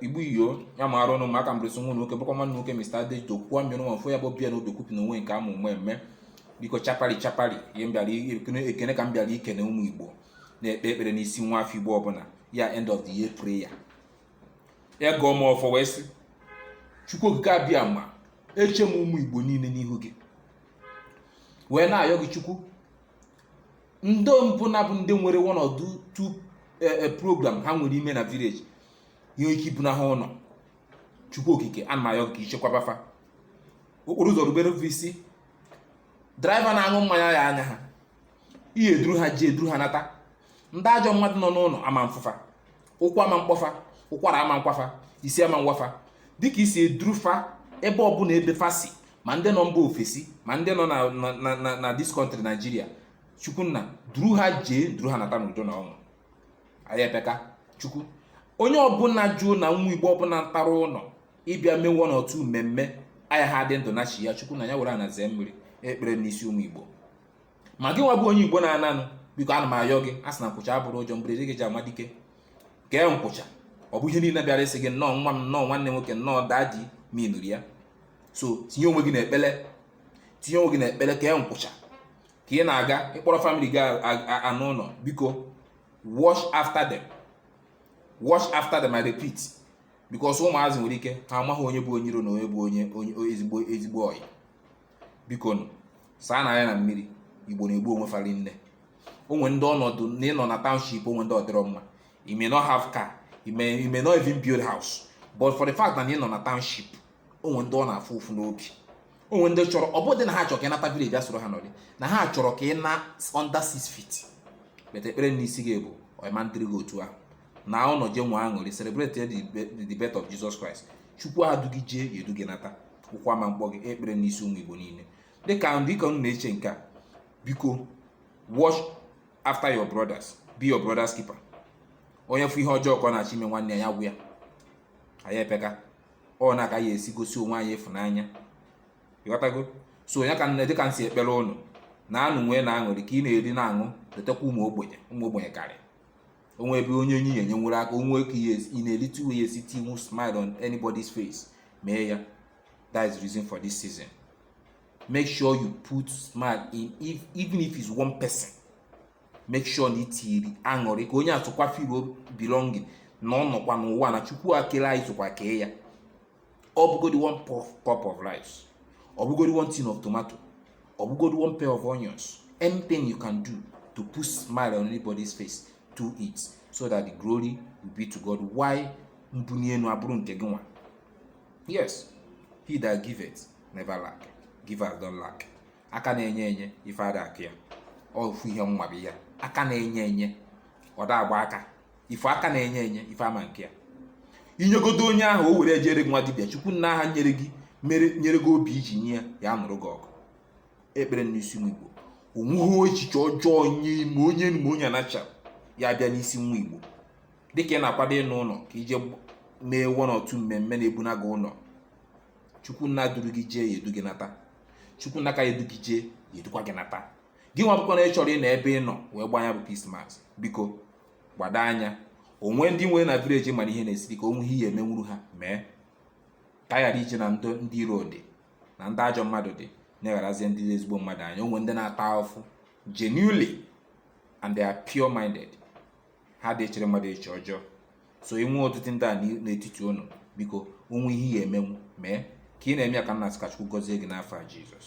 igbo iyo ya ma arụ ọnụ maka mbresi nwa nwoke bụkwa nwanne nwoke Mr. Adejo kwuo mmiri nwa mfụ ya bụ bịa na obi kwupụ na onwe nke a mmemme biko chapari chapari ihe m bịara ekene ka m bịara ikene ụmụ igbo na-ekpe ekpere n'isi nwa afọ igbo ọbụla ya end of the year prayer ya gọọ m ọfọ wee sị chukwu okike abịa m eche m ụmụ igbo niile n'ihu gị wee na-ayọ gị chukwu ndị ọbụna bụ ndị nwere one or two- two eh, eh, program ha nwere ime na village ihe ga-ebuna ha ụlọ chukwu okike ana m ayọ gị ka i chekwaba fa okporo ụzọ rubere fa isi driver na-aṅụ mmanya ya anya ha ị ya-eduru ha jee duru ha nata ndị ajọ mmadụ nọ n'ụlọ ama mfụ fa ụkwụ ama mkpọ fa ụkwara ama nkwa fa isi ama nwa fa dịka i si eduru fa ebe ọbụla ebe fa si ma ndị nọ mba ofesi ma ndị nọ na this country Nigeria chukwunna duru ha jee duru ha nata n'udo na ọṅụ anyị epeka chukwu onye ọbụla jụụ na nwa igbo ọbụla natara ụlọ ịbịa mee one or two mmemme ayaha dị ndụ na chi ya chukwunna ya were ana zee mmiri ekpere n'isi ụmụ igbo ma gị nwa bụ onye igbo na-ana ụnọ biko ana m ayọ gị a sị na nkwụcha abụrọ ụjọ mberede ka e ji ama dike kee nkwụcha ọ bụ ihe niile bịara ịsị gị nnọọ nwa m nnọọ nwanne nwoke nnọọ daddy ma ị nụrụ ya so tinye onwe gị na ekpele tinye onwe gị na ekpele kee nkwụcha ka ị na-aga ị kpọrọ family gị ana ụlọ biko watch after them watch after them I repeat because ụmụazị nwere ike ha amaghị onye bụ onye iro na onye bụ onye ezigbo ezigbo ọyị bikonu saanụ anya na mmiri igbo na-egbu onwe fa rinne o nwe ndị ọnọdụ na ị nọ na township o nwe ndị ọ dịrọ mma you may not have car you may, you may not even build house but for the fact na ị nọ na township o nwe ndị ọ na-afụ ụfụ n'obi o nwe ndị chọrọ ọ bụdị na ha chọrọ ka ị nata village bịa soro ha nọrị na ha chọrọ ka ị naa under six feet but ekpere n'isi gị bụ ọ ma ndịrị gị otu ahụ naa ụlọ jee nwee aṅụrị celebrate the birth of Jesus Christ chukwu edu gị jee ya edu gị nata ụkwụ ama mkpọ gị ekpere n'isi ụmụ Igbo niile dịka dịka unu na-eche nke a biko watch after your brothers be your brothers keeper onye fụ ihe ọjọọ ka ọ na-achọ ime nwanne ya gwa ya anyị epeka ọ ya ka a ga-esi gosi onwe anyị ịfụnanya ịghọtago so onye ka nne dịka m si ekpere ụnụ naanụ nweenụ aṅụrị ka ị na-eri na-aṅụ letakwa ụmụ ogbenye ụmụ ogbenye karị o nwee ebe onye onye enyenwuru aka o nwee ka in a little way ị ya-esi tinwu smile on anybody's face mee ya that is the reason for this season make sure you put smile in if, even if it's one person make sure na i tiri aṅụrị ka onye a sokwa feel belonging na ọ nọkwa n'ụwa na chukwu kelụ anyị sokwa kee ya ọ bụgodi one cup of rice ọ bụgodi one tin of tomato ọ bụgodi one pair of onions anything you can do to put smile on anybody's face do it so that the glory will be to God while mbuni enu abụrụ nke gị nwa yes he that giveth never lack givers don't lack aka na-enye enye ife ada akọ ya ofu ihe nwa bụ ya aka na-enye enye ọ da agba aka ife aka na-enye enye ife ama akọ ya i nyegodo onye ahụ o were ejere gị nwa dibịa chukwu nna ahụ nyere gị mere nyere gị obi i ji nye ya ya nụrụ gị ọgụ ekpere n'isi nwa igbo o nweghị echiche ọjọọ onye ime onye enu ma onye ana che ya-abịa n'isi nwa igbo dịka ị na-akwado ịna ụlọ ka i je mee one or two mmemme na-ebuna gị ụlọ chukwu nna duru gị jee ya edu gị nata chukwu nna ka ya edu gị jee ya edukwa gị nata gị nwa bụkwa na ị chọrọ ịnọ ebe ị nọ wee gbaa nya bụ christmas biko gbado anya o nwee ndị i nwere na village ma na ihe na-esiri ike o nwee ihe ị ya-emenwuru ha mee ka a ghara iji na ndị ndị iro dị na ndị ajọ mmadụ dị negharazie ndị ezigbo mmadụ anya o nwe ndị na-ata afụfụ genuinely and they are pure minded ha adị echere mmadụ eche ọjọọ so i nwee ọtụtụ ndị a n'i- n'etiti unu biko o nwee ihe ị ya-emenwu mee ka ị na-eme ya ka m na-asị ka Chukwu gọzie gị n'afa Jizọs